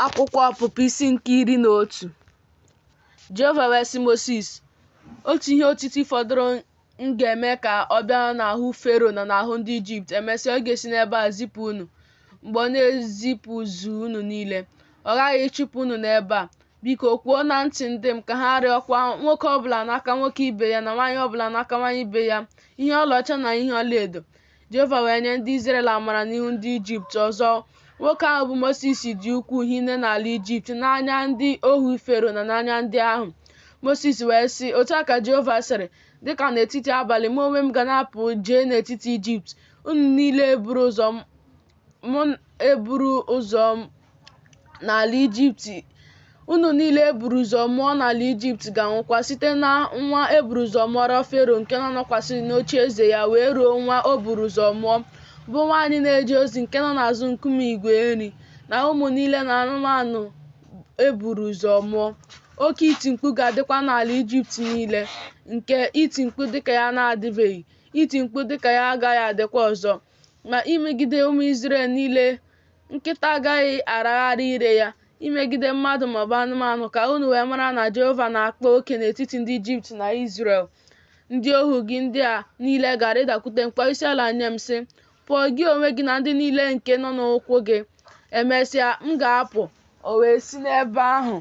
Akwụkwọ Ọpụpụ isi nke iri na otu Jehova wee sị Mosis, Otu ihe otiti fọdụrụ m ga-eme ka ọ bịa n'ahụ Fero na n'ahụ ndị Ijipt, emesịa ọ ga-esi n'ebe a zipụ unu. Mgbe ọ na-ezipụzu unu niile, ọ ghaghị ịchụpụ unu n'ebe a. Biko kwuo na ntị ndị m ka ha rịọkwa nwoke ọbụla n'aka nwoke ibe ya na nwaanyị ọbụla n'aka nwaanyị ibe ya ihe ọlaọcha na ihe ọlaedo. Jehova wee nye ndị Izrel amara n'ihu ndị Ijipt. Ọzọ, nwoke ahụ bụ Mosis dị ukwuu hinne n'ala Ijipt n'anya ndị ohu Fero na n'anya ndị ahụ. Mosis wee sị, Otu a ka Jehova sịrị, Dịka n'etiti abalị mụ onwe m ga na-apụ jee n'etiti Ijipt, unu niile eburu ụzọ m eburu ụzọ n'ala Ijipt unu niile eburu ụzọ mụọ n'ala Ijipt ga-anwụkwa site na nwa eburu ụzọ mụọrọ Fero nke na-anọkwasị n'oche eze ya wee ruo nwa o buru ụzọ mụọ bụ nwaanyị na-eje ozi nke nọ n'azụ nkume igwe nri na ụmụ niile na anụmanụ eburu ụzọ mụọ oke iti mkpu ga-adịkwa n'ala Ijipt niile nke iti mkpu dịka ya na-adịbeghị iti mkpu dịka ya agaghị adịkwa ọzọ Ma imegide ụmụ Izrel niile, nkịta agaghị aragharị ire ya, imegide mmadụ maọbụ anụmanụ, ka unu wee mara na Jehova na-akpa oke n'etiti ndị Ijipt na Izrel. Ndị ohu gị ndị a niile ga-arịdakwute m kpọọ isiala nye m sị, Pụọ gị onwe gị na ndị niile nke nọ n'ụkwụ gị. Emesịa, m ga-apụ. O wee si n'ebe ahụ,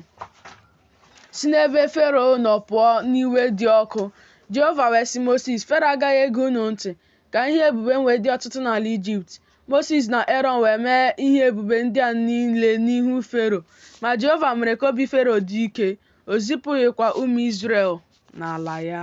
si n'ebe Fero nọ pụọ n'iwe dị ọkụ. Jehova wee sị Mosis, Fero agaghị ege unu ntị. ka ihe ebube m wee dị ọtụtụ n'ala Ijipt. Mosis na Erọn wee mee ihe ebube ndị a niile n'ihu Fero, ma Jehova mere ka obi Fero dị ike, o zipụghịkwa ụmụ Izrel n'ala ya.